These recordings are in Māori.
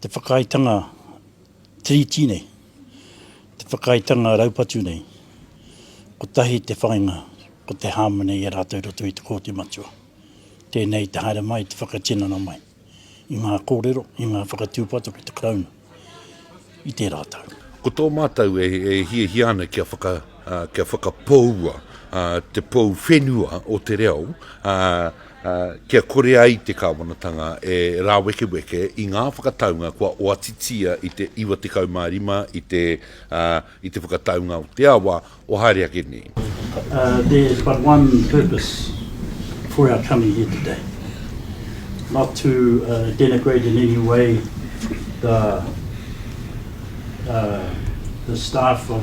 Te whakaaetanga Tiriti nei, te whakaaetanga raupatu nei, kotahi te whāinga, ko te hāmene i a rātou i roto i te Kōti Matua. Tēnei te haere mai, te whakatinana mai i ngā kōrero, i ngā whakatūpato ki te Karauna i tērā tau. Ko tō mātou e hiahia ana kia whaka, kia whakapoua te pou whenua o te reo, kia kore ai te Kāwanatanga e rāwekeweke i ngā whakataunga kua oatitia i te 95 i te whakataunga o te awa o haere ake nei. There is but one purpose for our coming here today, not to denigrate in any way the staff of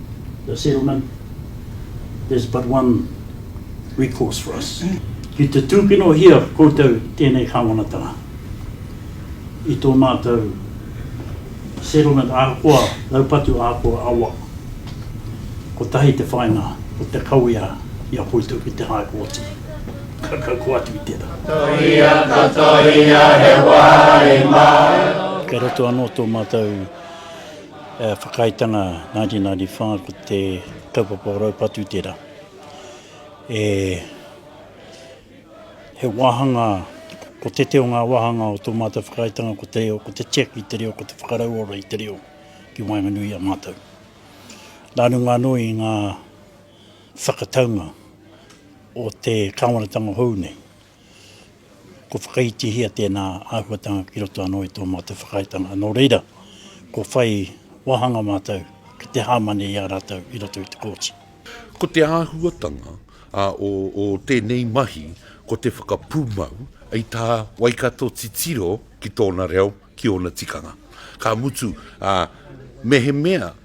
The settlement, there's but one recourse for us. Ki te tūkinohia koutou tēnei kāwanatanga i tō mātou settlement ahakoa raupatu ahakoa awa, kotahi te whāinga o te kawea i a koutou ki te High Kōti. Ka kaua atu i tērā. Tohia, ka tohia he wāhi māu. Kei roto anō tō mātou. Whakaaetanga 1995 ko te kaupapa o raupatu tērā. E he wāhanga, ko tētē o ngā wāhanga o tō mātou whakaaetanga ko te reo, ko te check i te reo, ko te whakarauora i te reo ki waenganui i a mātou. Nā runga anō i ngā whakataunga o te kāwanatanga hou nei. Kua whakaitihia tēnā āhuatanga ki roto anō i tō mātou whakaaetanga, nō reira, kua whai wāhanga mātou ki te hāmane i a rātou i roto i te kōti. Ko te āhuatanga o tēnei mahi ko te whakapūmau i tā Waikato titiro ki tōna reo, ki ōna tikanga. Ka mutu, mehemea.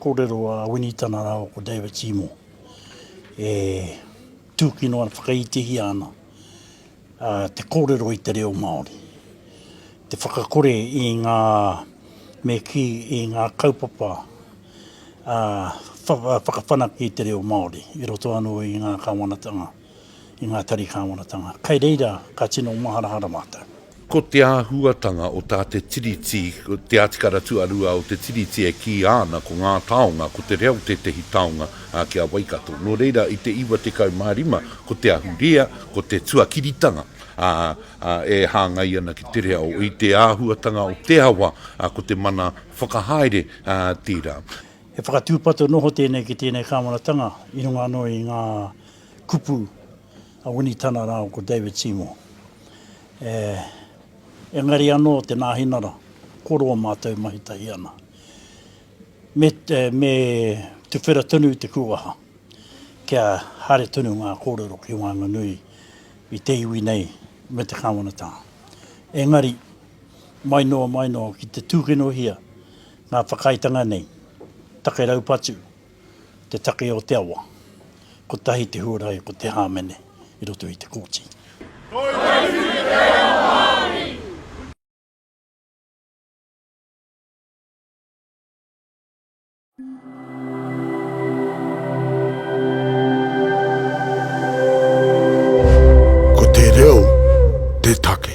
Kōrero a Winnie tana rāua ko David Seymour e tūkino ana, whakaitihia ana te kōrero i te reo Māori. Te whakakore i ngā, me kī, i ngā kaupapa whakawhanake i te reo Māori i roto anō i ngā Kāwanatanga. i ngā tari kāwanatanga. Kai reira ka tino maharahara mātou. Ko te āhuatanga o tā te Tiriti, te Atikara Tuarua o te Tiriti e kīia ana ko ngā taonga, ko te reo tētehi taonga ki a Waikato. Nō reira, i te 95 ko te ahurea, ko te tuakiritanga e hāngai ana ki te reo. I te āhuatanga o te awa, ko te mana whakahaere tērā. He whakatūpato noho tēnei ki tēnei kāwanatanga i runga anō i ngā. kupu a Winitana rāua ko David Seymour. Engari anō te Nāhinara, ko rō mātou mahi tahi ana. Me tuwhera tonu te kūaha kia haere tonu ngā kōrero ki waenganui i te iwi nei me te Kāwanatanga. Engari, mai noa mai noa ki te tūkinohia ngā whakaaetanga nei, take raupatu, te take o te awa, kotahi te huarahi ko te hāmene i roto i te kōti. Kōitiiti te reo Māori! Ko te reo te take.